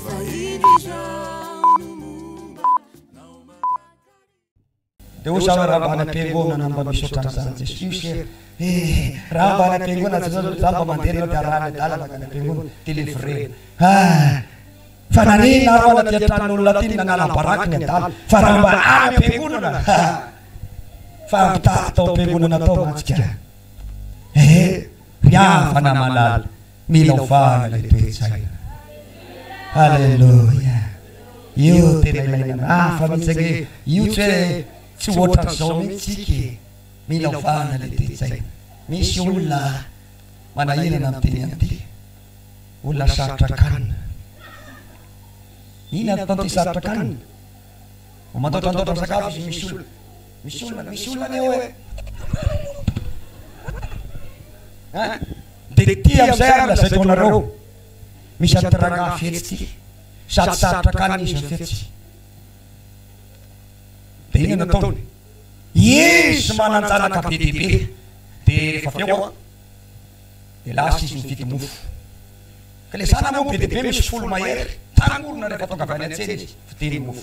Dia hoy izaho raha mba any am-piangonana no mba misy ohatran'izany Jesoa io se e! Raha mba any am-piangonana Jesoa zao, izaho mba mandeha anao dia arahany adala mankany am-piangonana dia levrena. Ah! Fa nanina aho anaty an-tranon'olona aty no nanala-baraka ny adala fa raha mba any am-piangonana ha! Fa mitady tao am-piangonana tao mantsy ka e! Ry havana malala. Mila ovana ilay toe-tsaina. Aleloia! Io tena ilaina hafa mihitsy ange io tsy hoe tsy ohatran'izao mihitsy tsika e! Mila ovana ilay toe-tsaina. Misy olona manahirana miteny an'ity. Olona sarotra kanina. Inona no ataon'ity sarotra kanina? Vao mandaotrandaotra misakafo izy misolo Misy olona misy olona anie oe hein de ty amizay ary lazaiko anareo misy anty ragnahy fetsy ty sady sarotra kanina izy mifetsy de inona no ataony izy mananjanaka be dia be de rehefa avy eo an de lasa izy mividy mofo ka le zanany moa be dia be misy folo mahery tangorona rehefa tonga avy any antsena izy vidiny mofo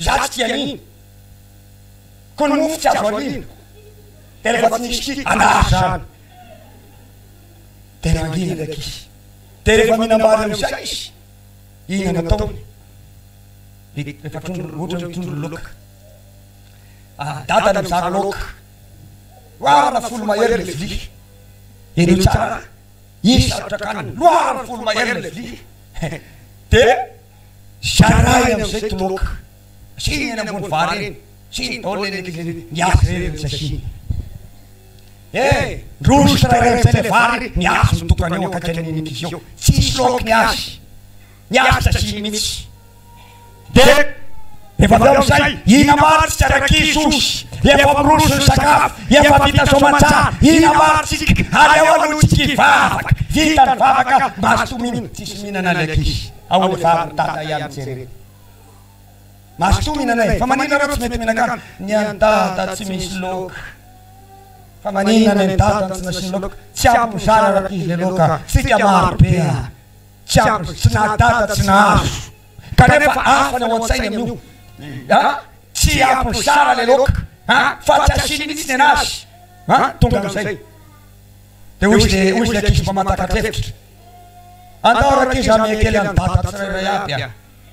Izaho tsy tia an'iny. Koa ny mofo tsy azo ariana. Dia rehefa tsy nisy tia an'ahy izany. Dia nangina ilay ankizy. Dia rehefa mihinam-bary amin'izay izy, iny nataony. Rehefa trondro, ohatra hoe trondro loka. Ary dadany mizara loka. Loharana folo mahery ilay vilia. Henoy tsara an! Izy sarotra kanina. Loharana folo mahery ilay vilia. Dia. Zarahiny amizay toloka. Asino eny ambony vary eny. Asino baolina eny ankilany eny. Mihazo irery ny tsy asiny. Eh! Ndroso tsirairay amizay ilay vary, mihazo ny tokany eo akaiky an'iny ankizy eo. Tsy hisy laoky ny azy. Mihazo tsy asiny mihitsy. Dia efa avy eo amizay, ina maro tsika rankizy osy. Efa miroso ny sakafo. Efa vita soamantsara. Ina maro tsika. Aleo aloha tsika hivavaka. Vita ny vavaka, mazotoa mihinana. Tsy hisy mihinana ilay ankizy. Ao le vavin'i Dada ihany jereo. Mazotoa mihinana e! Fa maninona reo tsy mety mihinan-kanina? Ny an'i Dada tsy misy loka. Fa maninona ny an'i Dada no tsy nasiany loka? Tsy ampy mizara araka izy le loka. Tsika maro be an! Tsy ampy izy. Tsy naha Dada tsy nahazo. Kanefa hafa ny ao an-tsainy amin'io. An! Tsy ampy mizara le loka. An! Fa tsy asiany mihitsy ny anazy. An! Tonga amin'izay. Dia hoy izy le ankizy mba mahatakatra hevitra. Andao rankizy hamehy kely an'i Dada tsirairay aby a!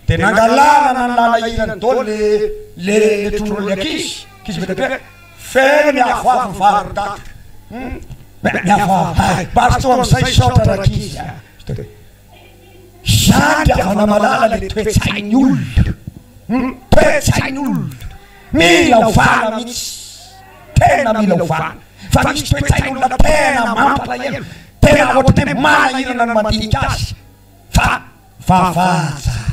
Dia nangalarana ny lalahiran'i Dôly le le le trondron'ilay ankizy, ankizy be dia be, Feno ny avoavo ny vary ry Dada! Hum! Beh, ny avoavo hay! Bary toa amin'izay Misaotra rankizy a! Izany dia vao namalala le toe-tsain'ny olona! Hum! Toe-tsain'ny olona! Mila ovana mihitsy! Tena mila ovana! Fa misy toe-tsain'olona tena mampalahelo, tena ohatran'ny hoe manahirana ny mandinika azy. Fa vavaha tsara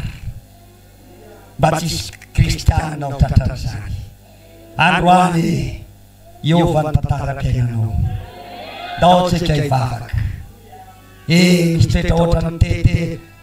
mba tsy hisy kristianina ho tratran'izany. Androany e! Hiova ny tantaram-piainanao. Ndao tsika hivavaka. Ee, misy toetra ohatran'ny TT.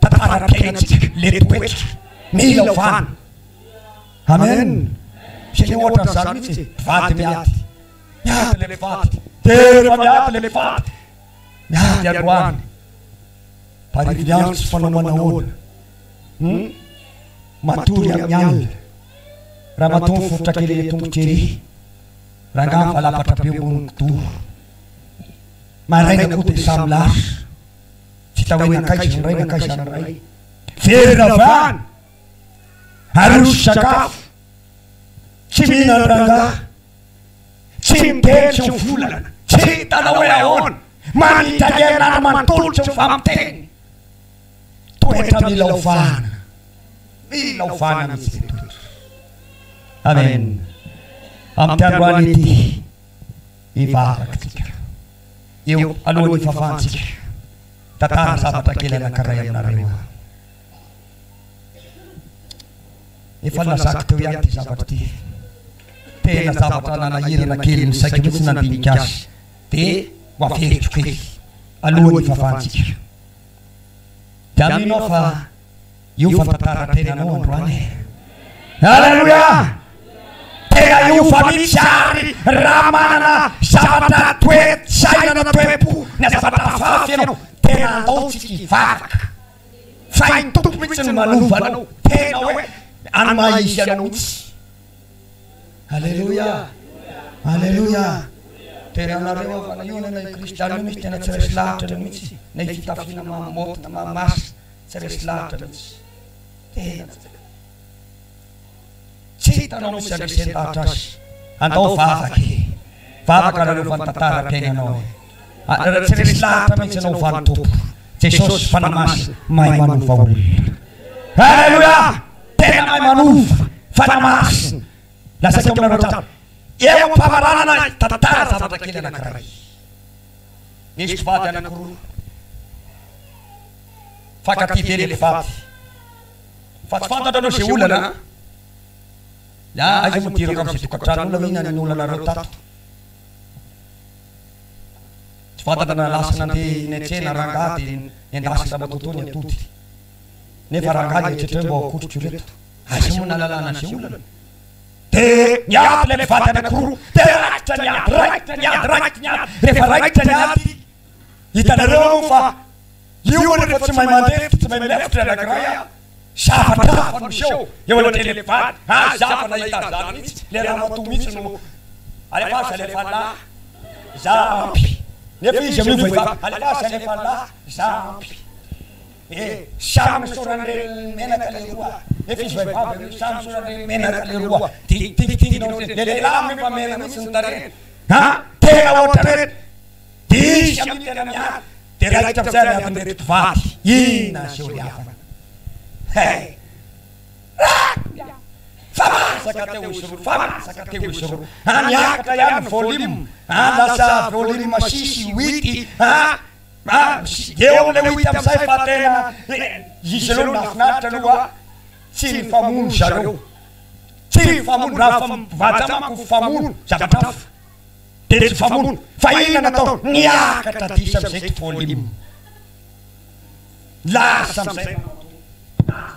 tantaram-piainantsika le toetra mila ovana amen tsy le ohatra an'zany mitsy e mpivady miady miady le mpivady de refa miady le mpivady miady androany mparivo ny andro tsy fanao manahoana hum matory amin'ny alina ramatoa miforitra kely le tongotry ery rangahy mivalapatra be ambony kidoro maraina koa de samy lasa Vita hoe nankaiza izany ray, nankaiza izany ray. Very ravana, aroso sakafo, tsy mihinan-dRangahy, tsy miteny tsy mivolana, tsy hitana hoe ahoana, manitrangerina ary manontolo tsy mifampiteny. Toetra mila ovana, mila ovana mihitsy ilay toetra. Amen. Amin'ity androany ity. Hivavak'tsika eo alohan'ny hivavantsika. Tantara zavatra kely anankiray aminareo aho. Efa nilazako teo ihany ity zavatra ity. Tena zavatra nanahirana kely ny saiko mihitsy nandinika azy. Dia ho averiko kely alohan'ny hivavantsika. Dia mino aho fa. Hiova ny tantaran-tenanao androany e! Aleloia! Tena hiova mihitsy àry raha manana zavatra toe-tsaina, toe-po, na zavatra hafahafa ianao. Tena ataontsika hivavaka fa i Tompo mihitsy no manova anao, tena hoe amin'ny maha izy anao mihitsy. Aleloia! Aleloia! Tena anareo havana, io anie na io Kristianina io mihitsy tena tsy resy lahatra anao mihitsy, na io fitafiana maha-môdy na maha-masina. Tsy resy lavitra mihitsy. Tena tsy resy. Tsy hitanao misy andresen-davitra azy. Andao vavaka e. Vavaka nareo fa ny tantaram-piainanao e. Ary tsy resy lavitra mihitsy ianao ho valin'ny Tompo. Jesosy Fanahy Masina mahay manova olona. Aleloia! Tena mahay manova. Fanahy Masina. Lazaiko aminareo hatrany. Eo am-pamaranana ny tantara zavatra kely anankiray. Nisy mpivady anankiroa. Mifankatia be le mpivady. Fa tsy fantatrareo izay olana an! Ya, aiza moa dirako amin'izay tokantranonao na inona na inona olanareo tato. Tsy fantatra na lasa nandeha niantsena rangahy dia nendasin-dry ramatoa tao ny atody. Nefa rangahy ny eritreritray mba ho akotriko ireto. Aiza moa nahalalana an'izay olana? De miady ilay mpivady anakiroa, de raikitra ny ady, raikitra ny ady, raikitra ny ady, rehefa raikitra ny ady, hitanareo moa fa io moa rehefa tsy mahay mandefitra, tsy mahay milefitra ilay anakiray an, zavatra hafa no miseho eo anatrehan'ilay mpivady, aza izaho efa nahita an'izany mihitsy, ilay ramatoa mihitsy no alefaso alefan'lah, izaho ampy, nefa izy amin'io vehivavy, alefaso alefan'lah, izaho ampy. Eh! Samy misaoran'i Renimenaka leroa eh! Efa izy vehivavy aloha samy misaoran'i Renimenaka leroa! Dingitingitinginao ity le lehilahy amin'io fa mena mihitsy ny tarehiny a! Tena ohatran'ireto dihy amin'io tena miady dia raikitra amin'izay ny adin'ireto mpivady! Inona ny seho lafany? Hey! Raka! Fa masaka teo izy roa! Fa masaka teo izy roa! A! Niakatra ihany ny volume a! Lasa volume six, huit a! Dia eo amin'ilay wita amizay fa tena izy aleo nahafinaritra aloha tsy nifamono zareo, tsy nifamono raha fa mivanja manko mifamono zavatra hafa dia tsy mifamono fa inona no atao niakatra diso amizay to volume lasa amizay manao tour lasa izy.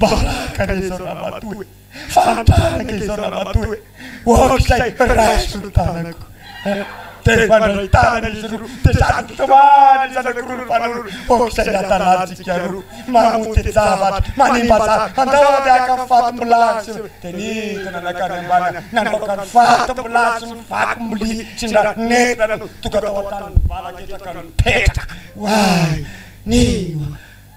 Baraka anie izao Ramatoa e! Fanitarana izao Ramatoa e! Oak'izay raiso ny tanako eh! Dia mifandray tanana izy roa dia sady mitomany ny zanako roa nifanolo oak'izay iadalantsika roa mamonjy an-javatra, manimba zavatra, andao ande haka ny faty milasy eo! Dia nidina nankany ambany nandaoka ny faty milasy sy ny vaky mbilia tsy nra nentina nandona tonga tao an-taniny ny vala ketraka nipetraka, oay! Ninoa!